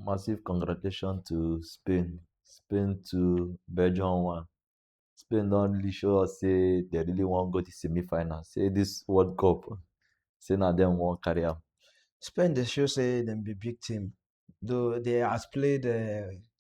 massive congratulations to spain spain two belgium one spain don really show us say dem really wan go the semi final say this world cup say na dem wan carry am. spain dey show say dem be big team though they has played um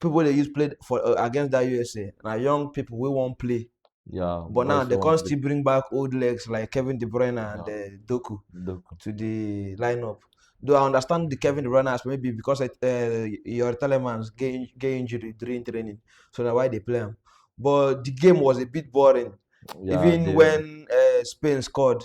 people wey dey use play for uh, against that usa na young people wey wan play Yeah, but now boys they wey wan come play. still bring back old legs like kevin de bruyne and Yeah. uh, doku Doku. to the lineup though i understand the kevin de bruyne as maybe because it, uh, your telemans get, in- get injury during training so na why they play am but the game was a bit boring Yeah, even they- when uh, spain scored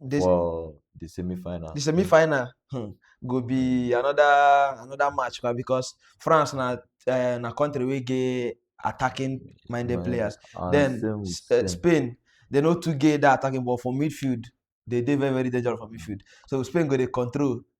This, for the semi-final. the semi-final hmm, go be another another match kwa, because France na uh, na country wey get attacking minded Mind- players. And then same with S- uh, Spain. Spain, they no too get that attacking ball for midfield. They dey very very dangerous for midfield. So Spain go dey control.